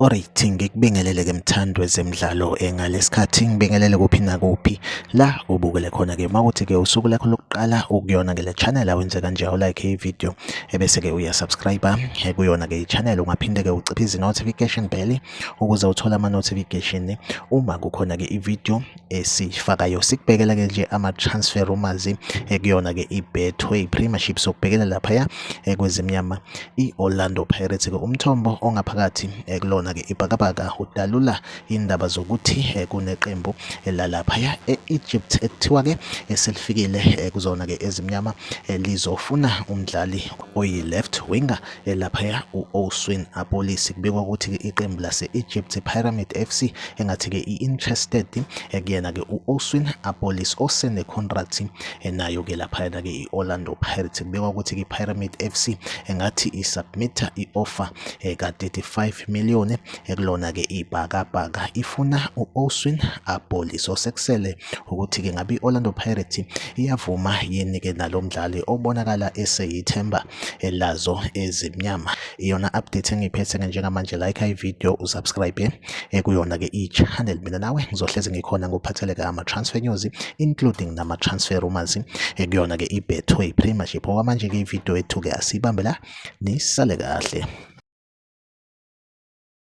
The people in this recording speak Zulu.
Alright ngikubingelele ke mthandwe zemidlalo engalesikhathi ngibingelele kuphi nakuphi la ubukele khona ke mawuthi ke usuku lakho lokuqala ukuyona ke le channel awenze kanje u like i video ebese ke uya subscribe kuyona ke i channel ungaphinde ke uciphe izi notification bell ukuze uthole ama notification uma kukhona ke ivideo esifakayo sikubhekela ke nje ama transfer rumors ekuyona ke iBetway Premiership sokubhekela lapha ya kwezimnyama iOrlando Pirates ke umthombo ongaphakathi kulona ke ibhakabhaka udalula indaba zokuthi kuneqembu lalapha ya eEgypt ekuthiwa ke eselifikile kuzona ke ezimnyama lizofuna umdlali oyi left winger elaphaya u-Oswin Apolisi kubikwa ukuthi-ke iqembu lase-Egypt Pyramid FC engathi-ke i-interested ekuyena-ke u-Oswin Apolis osenekhontrathi enayo-ke laphayana-ke i-Orlando Pirates kubikwa ukuthi-ke i-Pyramid FC engathi isubmitha i-offer ka-35 million ekulona-ke ibhakabhaka ifuna u-Oswin Apolis osekusele ukuthi-ke ngabe i-Orlando Pirates iyavuma yini-ke nalo mdlali obonakala eseyithemba lazo ezimnyama iyona update engiyiphethe-ke njengamanje like ivideo usubscribe kuyona-ke i-channel mina nawe ngizohlezi ngikhona ngokuphatheleka ama-transfer news including nama-transfer rumors kuyona-ke i-betway premiership okwamanje-ke ivideo yethu-ke asiyibambe la nisale kahle